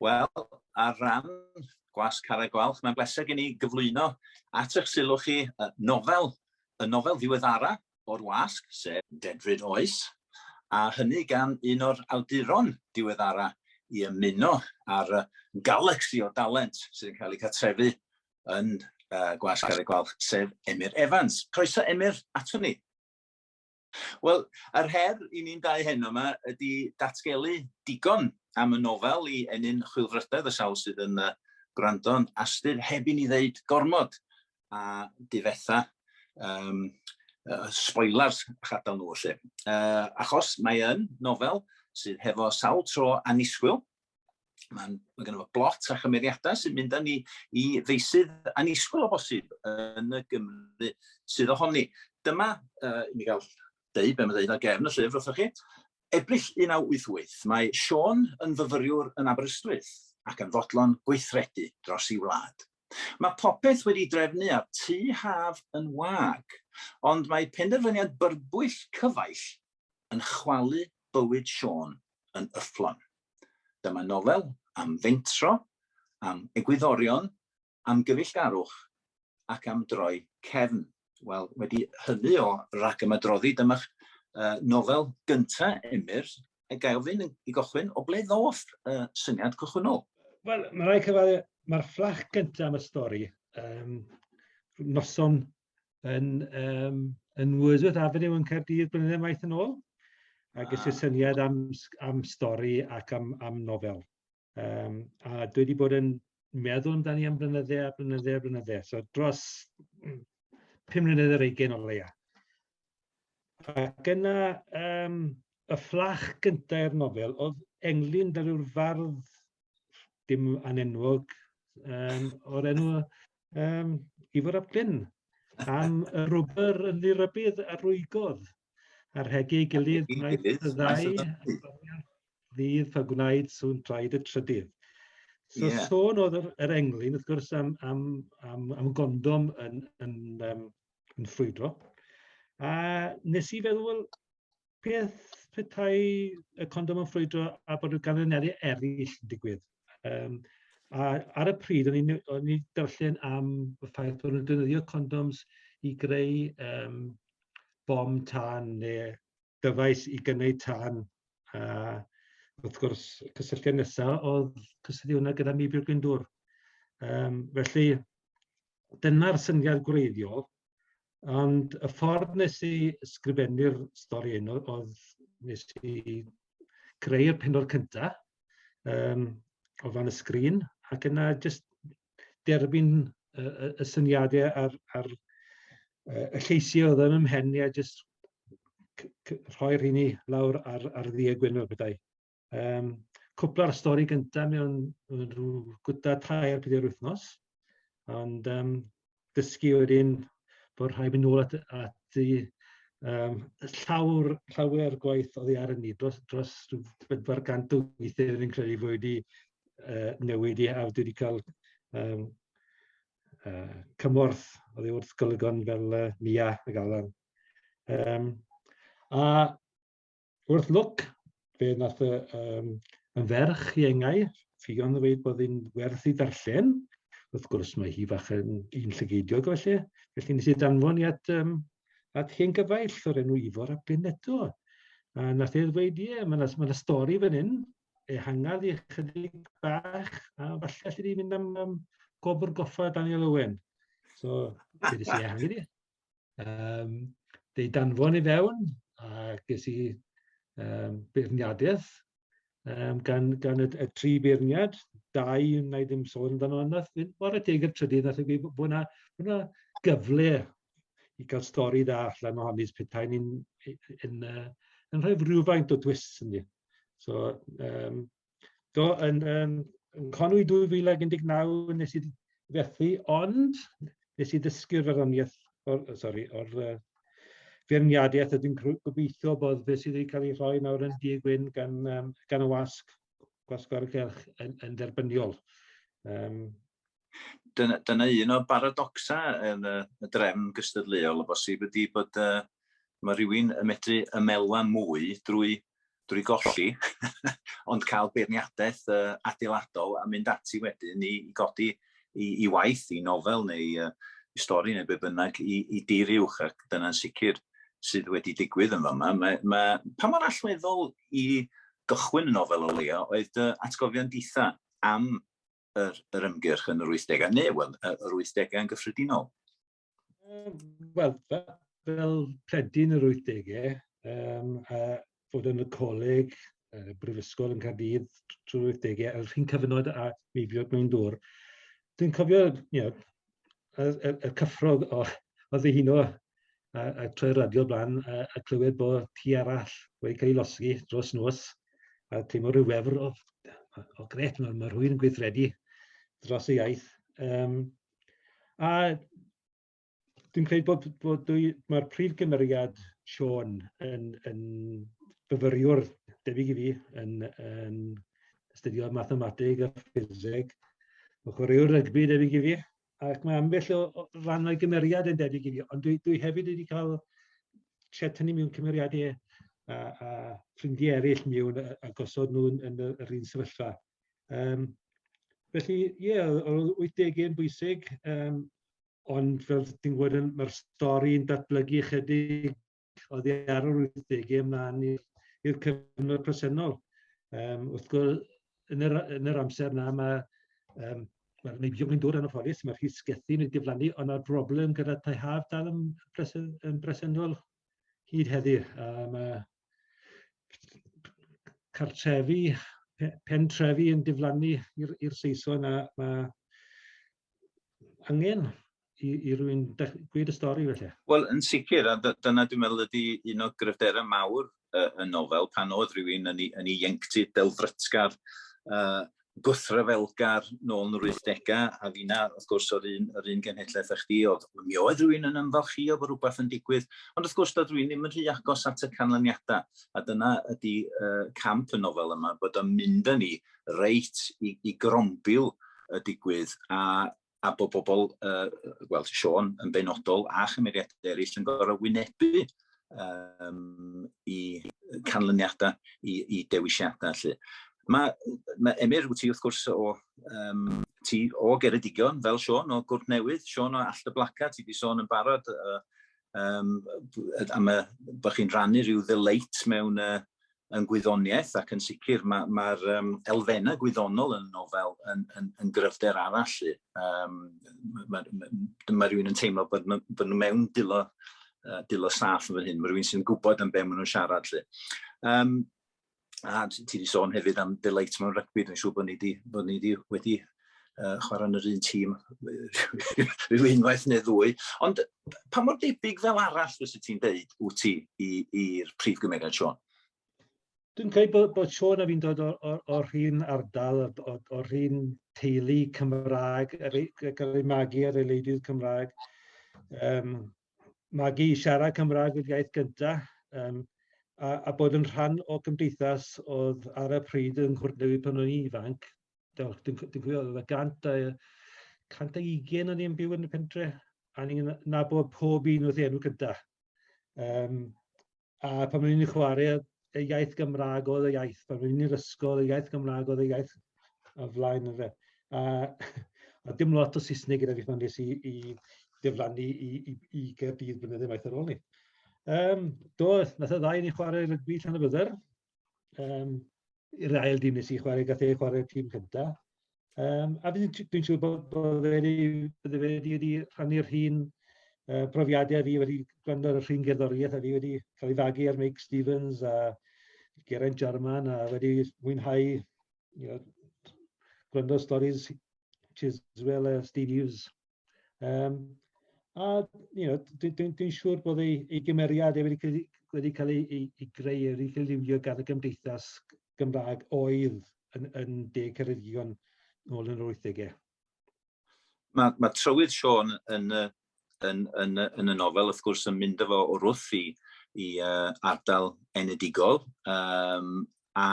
Wel, ar ran Gwas Carreg Gwalch, mae'n bleser gen i gyflwyno at eich sylw chi y nofel, y nofel ddiweddara o'r wasg, sef Dedfryd Oes, a hynny gan un o'r awduron diweddara i ymuno â'r galaxy o dalent sydd yn cael ei cartrefu yn uh, Gwas Garreg Gwalch, sef Emyr Evans. Croeso Emyr ato ni. Wel, yr her i ni'n dau heno yma ydy datgelu digon am y nofel i ennyn chwilfrydedd y sawl sydd yn uh, gwrando'n astyr heb i ni ddeud gormod a difetha um, uh, spoilers a chadael nhw felly. Uh, achos mae yn nofel sydd hefo sawl tro anisgwyl, Mae ma gennym ni blot a chymeriadau sy'n mynd â ni i feisydd anisgwyl o bosib yn y Gymru sydd ohoni. Dyma, uh, i mi gael deud be mae'n deud ar gefn y llyfr wrthoch chi, Ebrill 1988, mae Sean yn fyfyriwr yn Aberystwyth ac yn fodlon gweithredu dros ei wlad. Mae popeth wedi drefnu a'r tu haf yn wag, ond mae penderfyniad byrbwyll cyfaill yn chwalu bywyd Siôn yn yfflon. Dyma nofel am fentro, am egwyddorion, am gyfeillgarwch ac am droi cefn. Wel, wedi hynny o ragymadroddi, dyma'ch uh, nofel gynta, Emyr, a gael ofyn i gochwyn, o ble ddoth uh, syniad cychwynnol? Wel, mae rhaid cyfaddu, mae'r fflach gyntaf am y stori, um, noson yn, um, yn Wordsworth Avenue yn Caerdydd blynyddoedd maith yn ôl, a ges i ah. syniad am, am stori ac am, am nofel. Um, a dwi wedi bod yn meddwl amdani am blynydde a blynydde a blynydde. So dros 5 mlynedd ar eigen o leia. Ac yna, um, y fflach gyntaf i'r nofel oedd englyn fel yw'r fardd dim anenwog um, o'r enw um, Ifor ap Glyn am y rwber yn ddirybydd a rwygodd ar hegi ei gilydd wnaeth y ddau ddydd pa gwnaed sŵn traed y trydydd. So yeah. sôn oedd yr, yr englyn, wrth gwrs, am, am, am, am gondom yn, yn, um, yn ffrwydro. A nes i feddwl, Beth petai y condom yn ffrwydro a bod y ganlyniadau eraill yn digwydd? Um, a ar y pryd, o'n i'n darllen am y ffaith bod nhw'n defnyddio condoms i greu um, bom tân neu dyfais i gynnau tân. A wrth gwrs, y cysylltiad nesaf oedd cysylltu hwnna gyda Mibir Gwyndwr. Um, felly, dyna'r syniad gwreiddiol, ond y ffordd nes i sgrifennu'r stori hyn oedd nes i creu'r penod cynta um, o fan y sgrin, ac yna jyst derbyn y, y, y syniadau a'r, ar y lleisiau oedd yn ymhen i a jyst rhoi'r hynny lawr ar, ar ddi y gwyn o'r bethau. Um, cwpl ar y stori gyntaf mewn rhyw gwta tair pedi'r wythnos, ond um, dysgu wedyn bod rhaid mynd nôl at, at i um, llawr, llawer gwaith oedd ei ar y ni, dros, dros bedwar gant o weithiau yn credu fwy wedi uh, newid i hawdd wedi cael um, uh, cymorth oedd ei wrth golygon fel uh, Mia y Galan. Um, a wrth lwc, fe nath y, um, yn ferch i engai, ffion yn dweud bod hi'n werth i ddarllen. Wrth gwrs, mae hi fach yn un llygeidiog felly. Felly nes i danfon i at, um, at hen gyfaill o'r enw Ifor a Bryn eto. A nath ei ddweud, ie, yeah, mae'n ma stori fan hyn, ehangar i chydig bach, a falle allu di mynd am um, gobr goffa Daniel Owen. So, dwi wedi ehangar i. Um, fe danfon i fewn, a ges i um, beirniadaeth um, gan, gan y, y tri beirniad, dau na i ddim sôn amdano yna, o'r adeg y trydydd, nath fi bod yna, bod yna gyfle i gael stori dda allan o honni, petai ni'n yn, yn, yn rhoi rhywfaint o dwys yn ni. So, um, Do, yn, um, yn Conwy 2019 nes i fethu, ond nes i ddysgu'r farddoniaeth, or, sorry, o'r uh, feirniadaeth a dwi'n gobeithio bod fe sydd wedi cael ei rhoi nawr yn Dug Wyn gan, um, gan y wasg, gwasg o'r gylch yn, yn dderbyniol. Um, Dyna, dyna un o'r baradocsa yn y, y drefn gystadleuol o bosib ydy bod uh, mae rhywun yn medru ymelwa mwy drwy, drwy golli, ond cael beirniadaeth uh, adeiladol a mynd ati wedyn i, i godi i, i waith, i nofel neu uh, i stori neu be bynnag i, i dir uwch ac dyna'n sicr sydd wedi digwydd yn fama. Mae, mae, pa mor allweddol i gychwyn y nofel o leia oedd dy atgofion ditha am yr, yr ymgyrch yn yr 80au, neu wel, yr 80au yn gyffredinol? Wel, fel pledyn yr 80au, um, a fod yn y coleg, y brifysgol yn Caerdydd trwy'r 80au, a'r rhywun cyfnod a mi fi oedd mewn dŵr, dwi'n cofio, you know, y, y, y cyffrog o, o ddihuno a, a troi radio blaen a, a clywed bod ti arall wedi cael ei losgi dros nos a teimlo rhyw wefr o, o gret, mae, mae rhywun yn gweithredu dros y iaith. Um, a dwi'n credu bod, bod dwi, mae'r prif gymeriad Sean yn, yn fyfyriwr debyg i fi yn, yn astudiodd mathemateg a ffiseg, o chwaraewr rygbi debyg i fi, ac mae ambell o, o ran o'i gymeriad yn debyg i fi, ond dwi, dwi hefyd wedi cael tua tynnu mewn cymeriadau a, a ffrindiau eraill mewn a, a gosod nhw yn, yn yr un sefyllfa. Um, felly, ie, yeah, oedd 80 yn bwysig, um, ond fel ti'n gwybod, mae'r stori'n datblygu chydig oddi ar yr 80 ymlaen i'r cyfnod presennol. Um, wrth gwrs, yn yr, yn yr amser yna mae um, Wel, mae bio'n dod yn ofalus, mae'r rhys gethu nid diflannu, ond mae'r broblem gyda tai haf dal yn, presen, yn bresennol hyd heddiw. A mae cartrefi, pen trefi yn diflannu i'r Saeson a mae angen i, i rwy'n gwir y stori felly. Wel, yn sicr, a dyna dwi'n meddwl ydy un o gryfderau mawr uh, y nofel, pan oedd rhywun yn ei, yn ei ieunctid delfrytgar, uh, gwthryfelgar nôl yn yr 80au, a fina, wrth gwrs, o'r un, yr un genhedlaeth â chdi, oedd, mi oedd rhywun yn ymfalchio bod rhywbeth yn digwydd, ond wrth gwrs, doedd rhywun ddim yn rhy agos at y canlyniadau, a dyna ydy uh, camp y nofel yma, bod o'n mynd â ni reit i, i grombil y digwydd, a a bod bobl, uh, wel, Sean yn benodol a chymeriadau eraill yn gorau wynebu um, i canlyniadau, i, i dewisiadau. Lle. Mae, mae Emyr, wyt ti wrth gwrs o, um, ti o Geredigion, fel Sean, o Gwrt Newydd, Sean o Allt y Blaca, ti wedi sôn yn barod uh, um, am y, bod chi'n rannu rhyw ddyleit mewn, uh, yn gwyddoniaeth ac yn sicr mae'r ma, ma um, elfennau gwyddonol yn y nofel yn, yn, yn gryfder arall. Um, mae ma, ma rhywun yn teimlo bod, ma, bod nhw mewn dilo, uh, dilo saff yn fan hyn. Mae rhywun sy'n gwybod am be maen nhw'n siarad. Lle. Um, a ti wedi sôn hefyd am The Light mewn rygbi, dwi'n siŵr bod ni wedi, bod ni wedi, wedi uh, chwarae yn yr un tîm rhyw unwaith neu ddwy. Ond pa mor debyg fel arall fes y ti'n deud wyt ti i'r prif gymeriad Sean? Dwi'n credu bod, bod Sean a fi'n dod o'r un ardal, o'r un teulu Cymraeg, gyda'r ei magu ar ei leidydd Cymraeg. Um, magu i siarad Cymraeg wedi iaith gyntaf, um, a, a bod yn rhan o gymdeithas oedd ar y pryd yng Nghwrt Newid pan o'n i'n ifanc, Dwi'n cofio, oedd y gant a, cant a ugen o'n i'n byw yn y pentre, a ni'n nabod pob un wrth enw gyda. Um, a pan o'n i'n chwarae, y iaith Gymraeg oedd y iaith, pan o'n i'n ysgol, y iaith Gymraeg oedd y iaith a flaen yn fe. A, a dim lot o Saesneg gyda fi pan nes i, i diflannu i, i, i Gerdydd blynyddoedd maith ar ôl ni. Um, do, nath y ddau ni chwarae rygbi llan y byddar, um, i'r ail dîm nes i chwarae, gath ei chwarae tîm cyntaf. Um, a dwi'n dwi siŵr bod, bod e wedi, bod e wedi, wedi rhannu'r hun uh, profiadau fi wedi gwrando ar y rhywun gerddoriaeth a fi wedi cael ei fagu ar Mike Stevens a Geraint Jarman a wedi mwynhau you know, gwrando stories Chiswell a Steve Hughes Um, a you know, dwi'n dwi, dwi siŵr bod ei, ei gymeriad wedi cael, wedi cael ei, ei, ei greu, wedi cael ei liwio gan y gymdeithas Gymraeg oedd yn, yn deg Ceredigion ôl yn yr 80au. Mae, mae trywydd Sean yn, yn, yn, yn y nofel, wrth gwrs, yn mynd efo o'r wrth i, i uh, ardal enedigol, um, a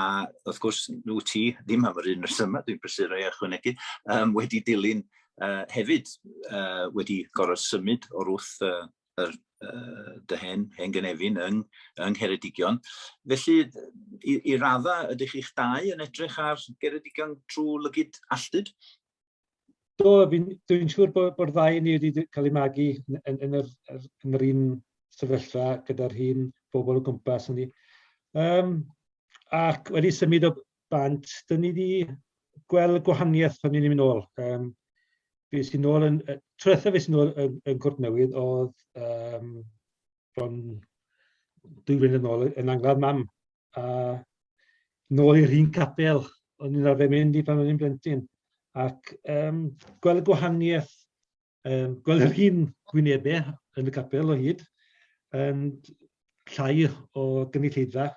wrth gwrs nhw ti ddim am yr un resymau dwi'n brysur ei ychwanegu, um, wedi dilyn uh, hefyd uh, wedi gorau symud o'r wrth uh, yr, uh, dy hen, hen gynefin yng, yng Ngheredigion. Felly, i, i radda, ydych chi'ch dau yn edrych ar Geredigion trwy lygyd alltud? Do, dwi'n siŵr bod, bod ddau ni wedi cael ei magu yn, yn, yn, yr, yn yr un sefyllfa gyda'r un bobl o gwmpas ni. Um, ac wedi symud o bant, dyn ni wedi gweld gwahaniaeth pan ni'n mynd ôl. Um, fi sy'n ôl yn, trwytho fi sy'n ôl yn, yn Cwrt Newydd oedd um, bron dwy flynedd yn ôl yn angladd mam. a nôl i'r un capel o'n i'n arfer mynd i pan o'n i'n blentyn. Ac um, gweld y gwahaniaeth, um, gweld yr un gwynebau yn y capel o hyd, um, llai o gynulleidfa,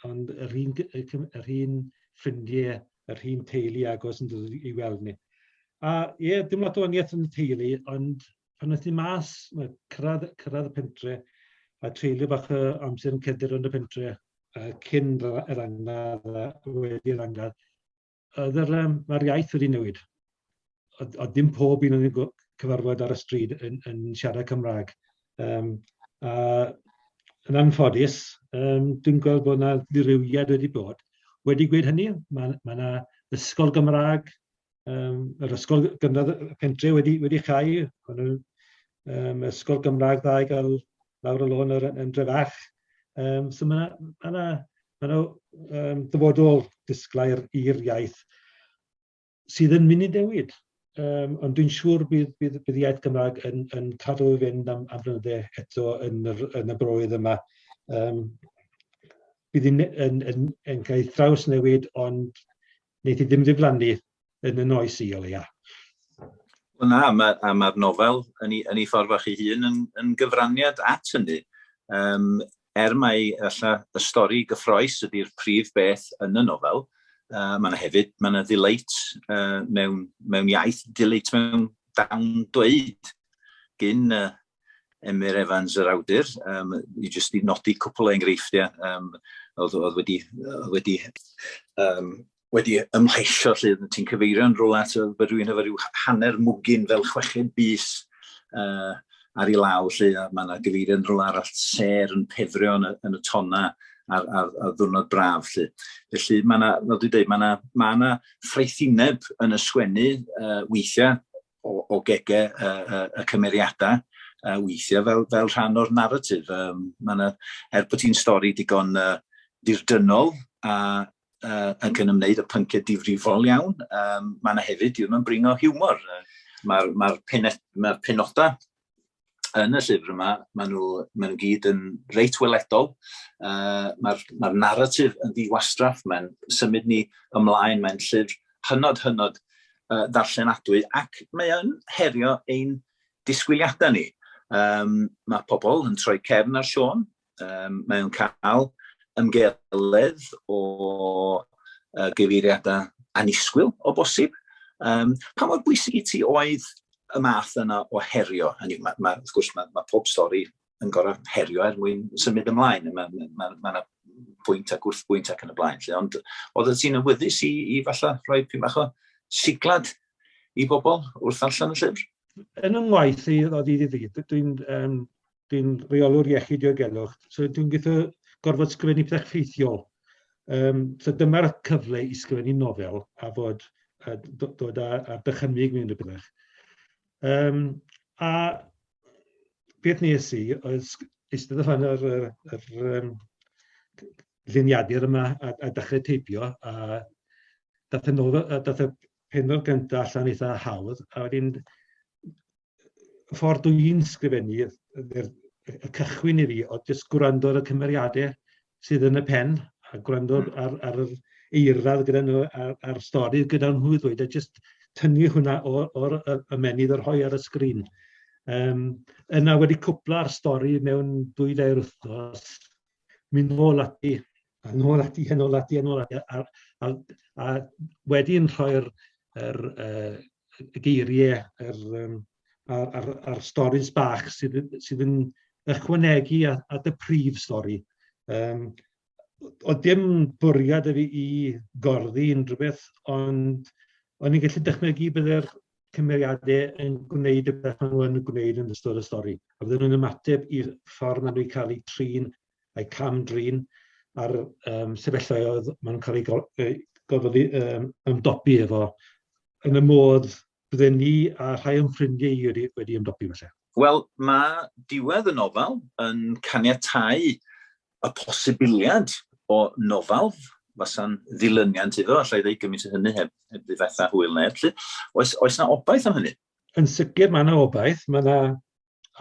ond yr un, yr un ffrindiau, yr un teulu agos yn dod i weld ni. A ie, yeah, dim lot o waniaeth yn y teulu, ond pan aeth i mas, cyrraedd, cyrraedd y pentre, a treulio bach o amser yn cedr yn y pentre, uh, cyn yr angladd a wedi'r angladd, oedd yr, um, mae'r iaith wedi newid. Oedd, oedd dim pob un o'n cyfarfod ar y stryd yn, yn siarad Cymraeg. Um, a yn anffodus, um, dwi'n gweld bod yna ddirywiad wedi bod. Wedi gwed hynny, mae yna ma ysgol Gymraeg um, yr ysgol gynradd y pentre wedi, wedi chau, ond yn um, ysgol Gymraeg dda i gael lawr y lôn yn, yn drefach. Um, so mae yna ma ma ma um, dyfodol disglair i'r iaith sydd yn mynd i newid. Um, ond dwi'n siŵr bydd, bydd, bydd iaith Gymraeg yn, yn cadw i fynd am, am flynyddau eto yn, yr, yn y broedd yma. Um, bydd yn, yn, yn, yn cael ei thraws newid, ond Wneith hi ddim ddiflannu yn y noes i o leia. Wel na, mae'r ma, ma nofel yn ei, yn ei ffordd fach ei hun yn, yn gyfraniad at hynny. Um, er mai alla, y stori gyffroes ydy'r prif beth yn y nofel, uh, mae yna hefyd, mae yna ddileit uh, mewn, mewn iaith, ddileit mewn dawn dweud gyn y, Emyr Evans yr awdur, um, i jyst i nodi cwpl o enghreifftiau um, oedd, oedd wedi, oedd wedi, um, wedi ymhleisio lle ti'n cyfeirio'n rhywle at fy rhywun efo rhyw hanner mwgyn fel chweched bus uh, ar ei law lle mae yna gyfeirio'n rhywle arall ser yn pefrio yn y, yn y tonna ar, ar, ar ddwrnod braf. Lle. Felly mae yna, fel dwi'n dweud, mae yna, mae yna ffraethineb yn y sgwennu uh, weithiau o, o gegau y, y, y cymeriadau uh, weithiau fel, fel rhan o'r narratif. Um, yna, er bod hi'n stori digon uh, dirdynol a uh, yn cyn ymwneud y pynciau difrifol iawn, um, mae yna hefyd, diwrnod bringo hiwmor. Uh, Mae'r ma, ma penodau yn y llyfr yma, maen nhw, maen nhw gyd yn reit weledol. Uh, Mae'r ma narratif yn ddiwastraff, mae'n symud ni ymlaen, mae'n llyfr hynod, hynod uh, ddarllenadwy ac mae'n herio ein disgwyliadau ni. Um, mae pobl yn troi cefn ar Sean, um, mae o'n cael ymgeledd o uh, gyfeiriadau anisgwyl o bosib. Um, pa mor bwysig i ti oedd y math yna o herio? Hynny, ma, ma, wrth gwrs, mae ma pob stori yn gorau herio er mwyn symud ymlaen. Mae yna ma, ma, ma pwynt ac wrth bwynt ac yn y blaen. Lle. Ond oedd y ti'n ymwyddus i, i falle rhoi pyn bach o siglad i bobl wrth allan y llyfr? Yn yng ngwaith i, oedd i ddifri, dwi'n um, dwi'n reolwr iechyd diogelwch, so dwi'n gweithio gorfod sgrifennu pethau ffeithiol. Um, so dyma'r cyfle i sgrifennu nofel a fod a dod â, â dychymyg mewn rhywbeth. Um, a beth nes i oedd eistedd allan ar yr, yr um, lluniadur yma a, a dechrau teipio a dath y, nofel, a dath y penod gyntaf allan eitha hawdd a wedyn y ffordd dw i'n sgrifennu, y, y, y cychwyn i fi, oedd jyst gwrando ar y cymeriadau sydd yn y pen, a gwrando hmm. ar, ar yr eirradd gyda nhw, a'r, ar stori gyda nhw i ddweud, a jyst tynnu hwnna o'r ymenydd yr hoi ar y sgrin. Um, yna wedi cwpla'r stori mewn dwy dair wythnos, mynd ôl ati a nôl ati, a nôl ati, a nôl ati, a, a, a, a wedyn rhoi'r er, er, y geiriau a'r, um, ar, ar, ar storys bach sydd, sydd yn ychwanegu a, a dy prif stori. Um, o dim bwriad fi i gorddi unrhyw beth, ond o'n i'n gallu dychmygu byddai'r cymeriadau yn gwneud y beth maen nhw'n gwneud yn ystod y stori. A byddwn nhw'n ymateb i'r ffordd maen nhw'n cael eu trin a'i cam-drin a'r yym sefyllfaoedd maen nhw'n cael eu go- eu gorfod eu yym ymdopi efo, yn y modd bydden ni a rhai o'n ffrindiau i wedi wedi ymdopi falle? Wel, mae diwedd y nofel yn caniatáu y posibiliad o nofel fasa'n ddilyniant iddo, allai ddweud gymaint o hynny heb, heb ddifetha hwyl neb. Felly, oes, oes na obaith am hynny? Yn sicr mae yna obaith, mae yna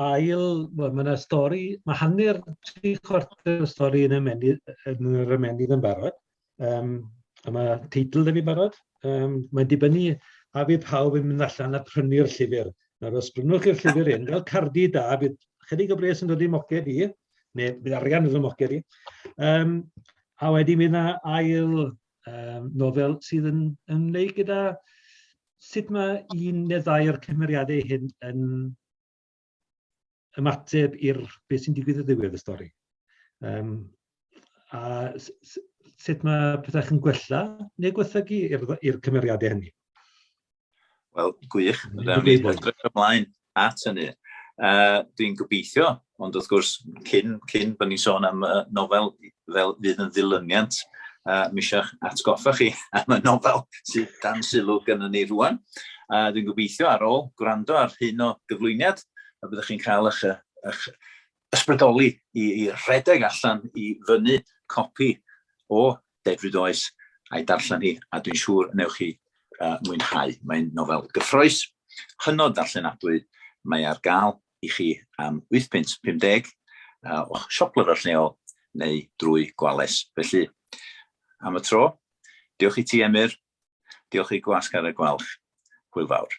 ail, wel, mae yna stori, mae hanner tri chwarter y stori yn, ymennu, yn yr ymennydd yn barod. Um, a mae teitl yn ei barod. Um, mae'n dibynnu a bydd pawb yn mynd allan a prynu'r llyfr. Nawr, os brynwch chi'r llyfr hyn, fel cardi da, bydd chydig o bres yn dod i moced i, neu bydd arian yn dod i moced i. Um, a wedyn bydd yna ail um, nofel sydd yn ymwneud gyda sut mae un neu ddau o'r cymeriadau hyn yn ymateb i'r beth sy'n digwydd y ddiwedd y stori. Um, a sut mae pethau yn gwella neu gwethygu i'r cymeriadau hynny. Wel, gwych. Rhaid ni edrych ymlaen at hynny. Uh, Dwi'n gobeithio, ond wrth gwrs, cyn, cyn bod ni'n sôn am uh, nofel fel fydd yn ddilyniant, uh, mi eisiau atgoffa chi am y nofel sydd dan sylw gyda ni rwan. Uh, Dwi'n gobeithio ar ôl gwrando ar hyn o gyflwyniad, a byddwch chi'n cael eich, eich ysbrydoli i i redeg allan i fynnu copi o Dedfryd Oes a'i darllen hi, a dwi'n siŵr y newch chi uh, mwynhau. Mae'n nofel gyffroes, hynod ddarllenadwy, mae ar gael i chi am 8 pint 50 uh, o'ch siop lyfrau lleol neu drwy gwales. Felly, am y tro, diolch i ti Emyr, diolch i Gwasg ar y Gwalch, hwyl fawr.